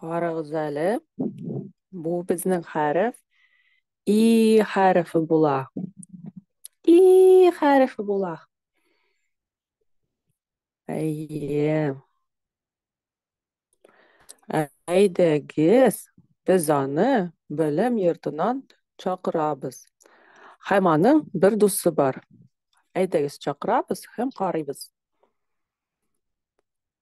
Карагыз әле. Бу безнең хәреф и хәрефе була. И хәрефе була. Әйе. Әйдәгез, без аны белем йортынан чакырабыз. Һәм аның бер дусы бар. Әйдәгез, чакырабыз һәм карыйбыз.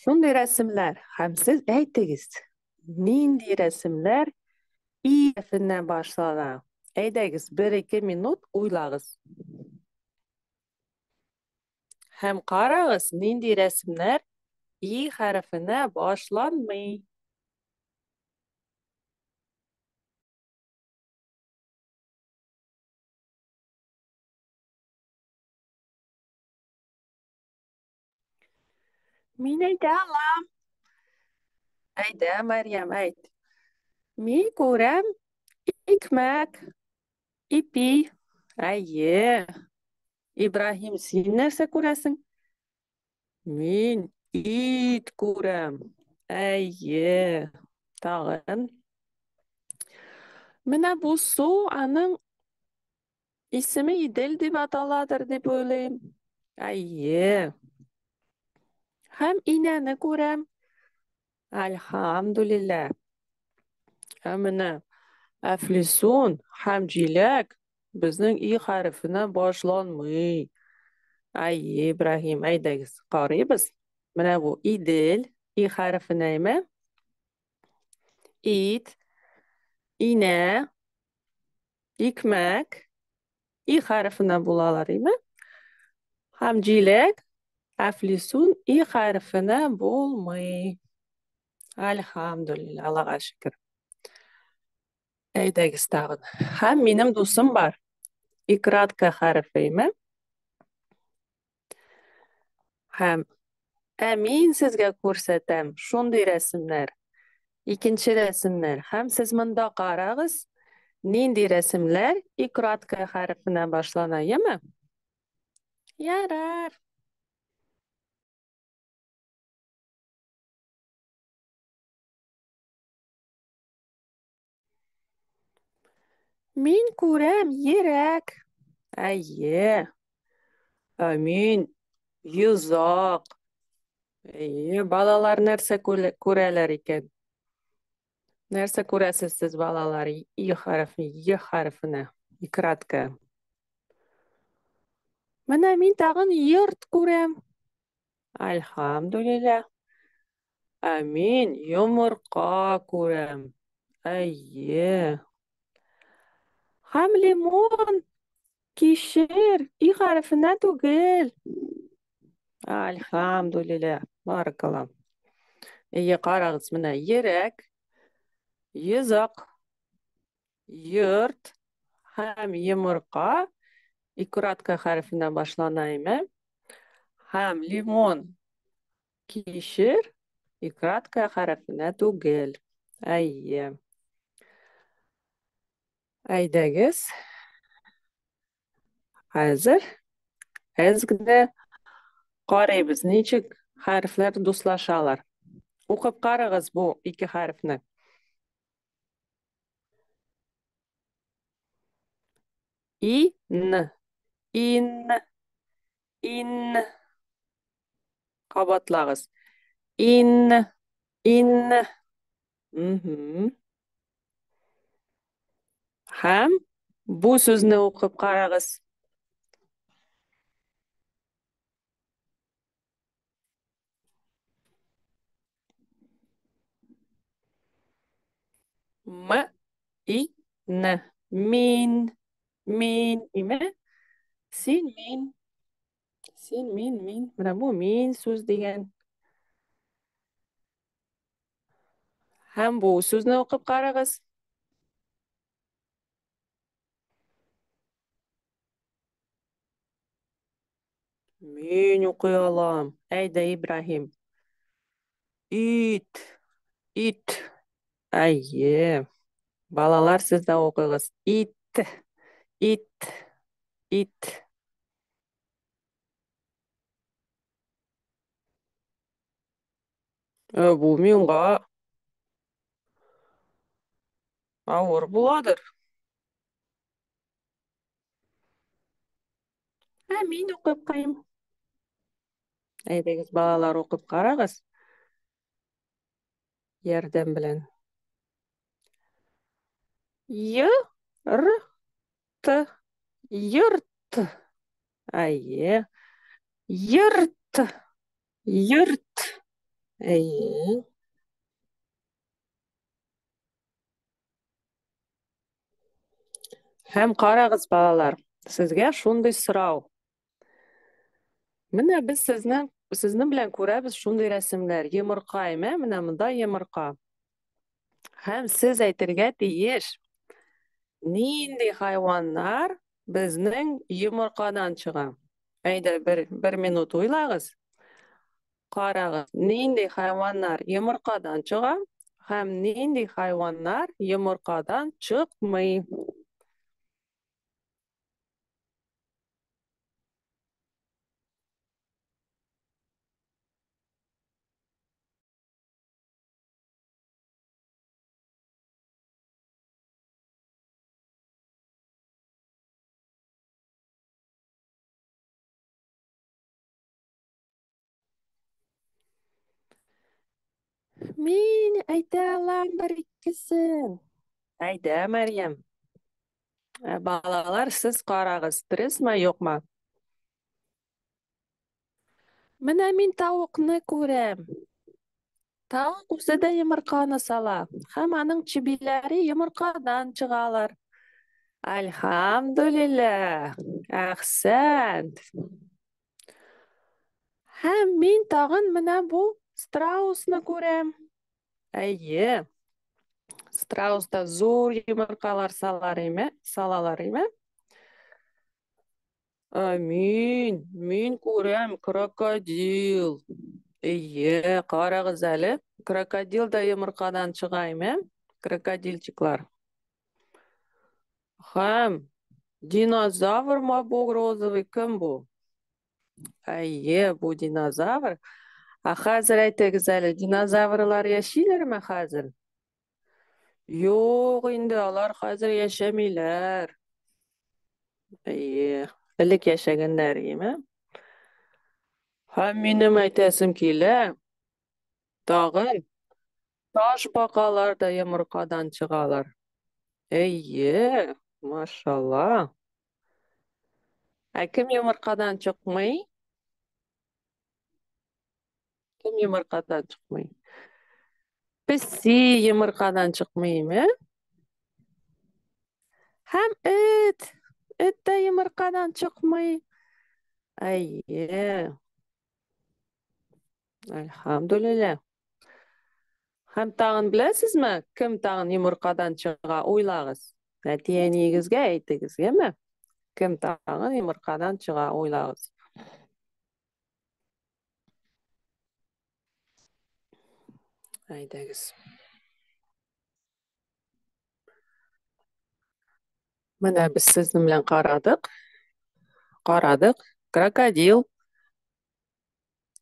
Шундый рәсемнәр, һәм сез әйтегез, нинди рәсемнәр и әрефеннән башлана? Әйдәгез, бер-ике минут уйлагыз. Һәм карагыз, нинди рәсемнәр и хәрефенә башланмый. Мин әйтә алам. Әйдә, Мәриям, әйт. Мин күрәм икмәк, ипи. Әйе. Ибраһим, син нәрсә күрәсең? Мин ит күрәм. Әйе. Тагын. Менә бу су аның Исеме Идел дип аталадыр дип уйлыйм. Әйе. Һәм инәне күрәм. Альхамдулилла. Ә менә Әфлисун һәм Җиләк безнең и хәрефенә башланмый. Әйе, Ибраһим, әйдәгез, карыйбыз. Менә бу Идел и хәрефенәме? Ит, инә, икмәк, и хәрефенә булалар, име? Һәм җиләк, әфлисун, и хәрефенә булмый. Әлхамдулилла, Аллага шөкер. Әйдәгез тагын. Һәм минем дусым бар. Икратка хәрефе, име? Һәм ә мин сезгә күрсәтәм шундый рәсемнәр, икенче рәсемнәр. Һәм сез монда карагыз, нинди рәсемләр и краткая хәрефенә башлана, яме? Ярар. Мин күрәм ерәк. Әйе. Ә мин йозак. Әйе, балалар нәрсә күрәләр икән? Нәрсә күрәсез сез балалар? И хәрефе, е хәрефенә. Икратка. Менә мин тагын йорт күрәм. Альхамдулилля. Ә мин йомырка күрәм. Әйе. Һәм лимон кишер и хәрефенә түгел. Альхамдулилля. Баракалла. Әйе, карагыз, менә йөрәк, йозак, йорт һәм йомырка икоратка хәрефенә башлана име? Һәм лимон Кишер и краткая хәрефенә түгел. Әйе. Әйдәгез. Хәзер әзгедә карыйбыз, ничек хәрефләр дуслашалар. Укып карагыз бу ике хәрефне. И, н. Ин. Ин. Кабатлагыз. Ин. Ин. Мхм. Хәм бу сүзне укып карагыз. М и н. Мин. Мин. Име? Син мин. Син мин мин. Менә бу мин сүз дигән. Һәм бу сүзне укып карагыз. Мин укый алам. Әйдә, Ибраһим. Ит. Ит. Әйе. Балалар, сез дә укыгыз. Ит. Ит. Ит. Ә бу миңа авыр буладыр. Ә мин укып кайым. Әйдәгез, балалар, укып карагыз. Ярдәм белән. Й, р, т, йорт. Әйе. Йорт. Йорт. Әйе. Һәм карагыз, балалар, сезгә шундый сорау. Менә без сезнең сезнең белән күрәбез шундый рәсемнәр. Йомырка имә, менә монда йомырка. Һәм сез әйтергә тиеш, нинди хайваннар безнең йомыркадан чыга. Әйдә, бер, бер минут уйлагыз. Карагыз, нинди хайваннар йомыркадан чыга һәм нинди хайваннар йомыркадан чыкмый. Мин әйтә алам бер икесен. Әйдә, Мәрьям. Ә, Балалар, сез карагыз, пресма юкмы? Менә мин тавыкны күрәм. Тавык үзе дә йомырканы сала, һәм аның чебиләре йомыркадан чыгалар. Альхамдулилля! Әхсәнт! Һәм мин тагын менә бу страусны күрәм. Әйе. Страуста зур йомыркалар салар име, салалар име? Ә, мин, мин күрәм крокодил. Әйе, карагыз әле. Крокодил да йомыркадан чыга име? Крокодильчиклар. Хәм, динозавр мабуг розовый кем бу? Әйе, бу динозавр. Ә хәзер әйтегез әле, динозаврлар яшиләрме хәзер? Юк инде, алар хәзер яшәмиләр. Әйе, элек яшәгәннәр, име? Һәм минем әйтәсем килә, Тагын ташбакалар да йомыркадан чыгалар. Әйе, машалла. Ә кем йомыркадан чыкмый? Кем йомыркадан чыкмый? Песи йомыркадан чыкмыймы? Һәм эт. Эт тә йомыркадан чыкмый. Әйе. Әлхәмдүлилләһ. Һәм тагын беләсезме, кем тагын йомыркадан чыга? Уйлагыз. Әти-әниегезгә әйтегез, яме? Кем тагын йомыркадан чыга? Уйлагыз. Әйдәгез. Менә без сезнең белән карадык. Карадык. Крокодил.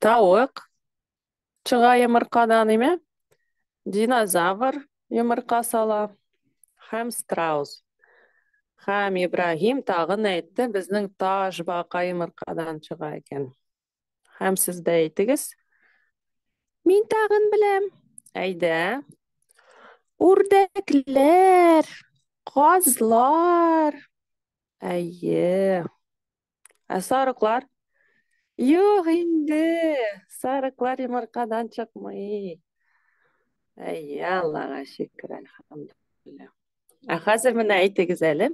Тавык. Чыга йомыркадан, име? Динозавр йомырка сала. Хәм страус. Хәм Ибраһим тагын әйтте, безнең таш бака йомыркадан чыга икән. Һәм сез дә әйтегез. Мин тагын беләм. Әйдә. Үрдәкләр, казлар. Әйе. Ә сарыклар? Юк инде. Сарыклар йомыркадан чыкмый. Әйе, Аллага шөкер, әлхәмдүлилләһ. Ә хәзер менә әйтегез әле.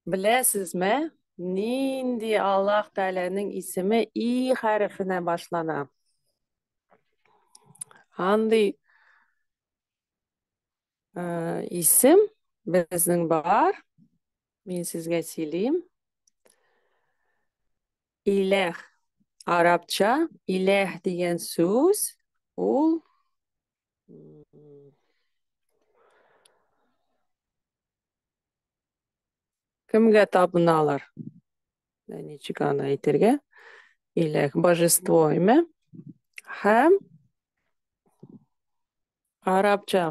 Беләсезме, нинди Аллаһ Тәгаләнең исеме и хәрефенә башлана? Андый э, исем безнең бар. Мин сезгә сөйлим. Иләх. Арабча иләх дигән сүз ул Кемгә табыналар? Ә ничек аны әйтергә? Иләк божество име? Һәм арабча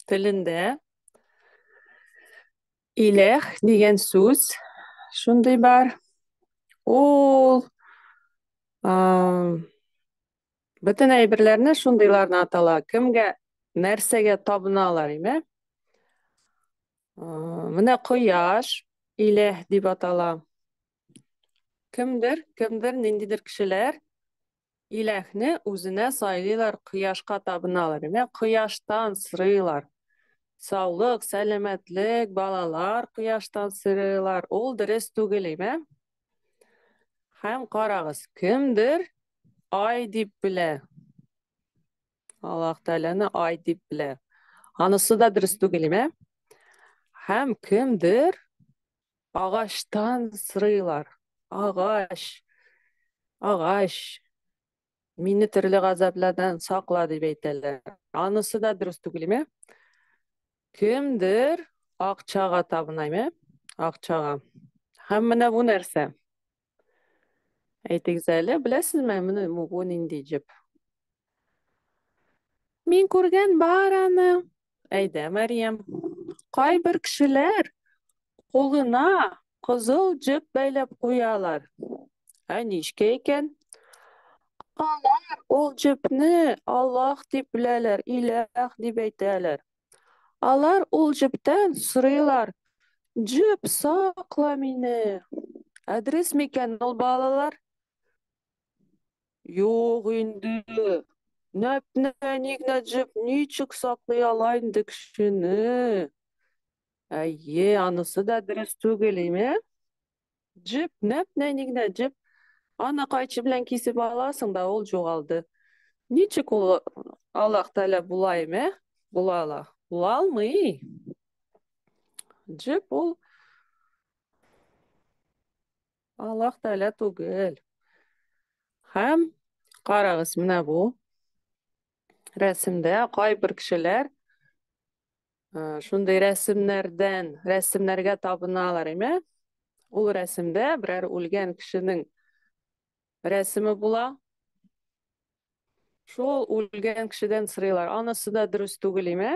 телендә иләх дигән сүз шундый бар. Ул Бөтен әйберләрне шундыйларны атала. Кемгә, нәрсәгә табыналар, име? Менә кояш, иләһ дип атала. Кемдер, кемдер, ниндидер кешеләр иләһне үзенә сайлыйлар, кояшка табыналар, име? Кояштан сырыйлар. Саулык, сәламәтлек, балалар кояштан сырыйлар. Ул дөрес түгел, име? Һәм карагыз, кемдер ай дип белә. Аллаһ Тәгаләне ай дип белә. Анысы да дөрес түгел, ә? Һәм кемдер агачтан сырыйлар. Агач. Агач. Мине төрле газаплардан сакла дип әйтәләр. Анысы да дөрес түгелме? Кемдер акчага табынаймы? Акчага. Һәм менә бу нәрсә? Әйтегез әле, беләсезме, менә бу нинди җеп? Мин күргән бар аны. Әйдә, Мәриям. Кайбер кешеләр кулына кызыл җеп бәйләп куялар. Ә ничкә икән? Алар ул җепне Аллаһ дип беләләр, Иләх дип әйтәләр. Алар ул җептән сорыйлар, Җеп, сакла мине. Ә дөрес микән ул, балалар? Юк инде. Нәп-нәник Нәҗип ничек саклый ала инде кешене? Әйе, анысы да дөрес түгел, име? Җеп, нәп-нәник Нәҗип. Аны кайчы белән кисеп аласың да ул җугалды. Ничек ул Аллаһ Тәгалә була име? Була ала. Була алмый. Җеп ул Аллаһ Тәгалә түгел. Һәм карагыз, менә бу рәсемдә кайбер кешеләр э, шундый рәсемнәрдән, рәсемнәргә табыналар, әйме? Ул рәсемдә берәр үлгән кешенең рәсеме була. Шул үлгән кешедән сырыйлар. Анысы да дөрес түгел, әйме?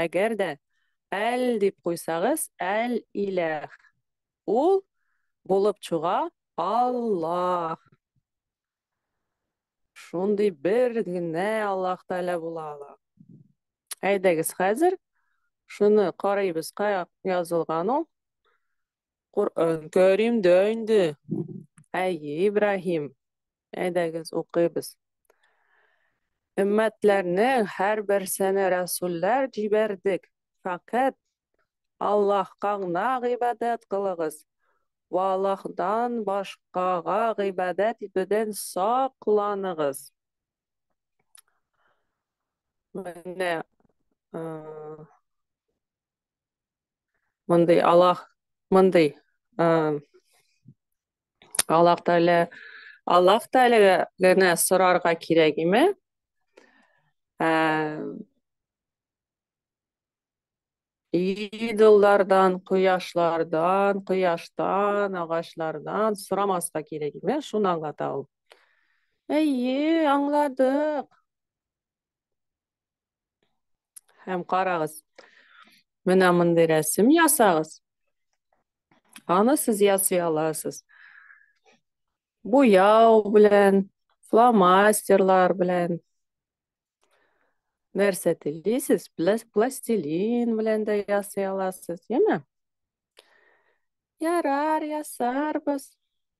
Әгәр дә әл дип куйсагыз, әл иләх. Ул булып чыга Аллаһ. Шундый бер генә Аллаһ Тәгалә була ала. Әйдәгез, хәзер шуны карыйбыз, кая язылган ул. Коръән Кәрим дә инде. Әйе, Ибраһим. Әйдәгез, укыйбыз. Өммәтләрнең һәрберсенә рәсүлләр җибәрдек. Фәкать Аллаһка гына гыйбадәт кылыгыз. Вә Аллаһдан башкага гыйбадәт итүдән сакланыгыз. Менә Мондый Аллах, мондый э, Аллах Тәгалә Аллах Тәгаләгә генә сорарга кирәк име? Э, идоллардан, кояшлардан, кояштан, агачлардан сорамаска кирәк име? Шуны аңлата ул. Әйе, аңладык. Һәм карагыз. Менә мондый рәсем ясагыз. Аны сез ясый аласыз. Буяу белән, фломастерлар белән. Нәрсә телисез? Пластилин белән дә ясый аласыз, яме? Ярар, ясарбыз.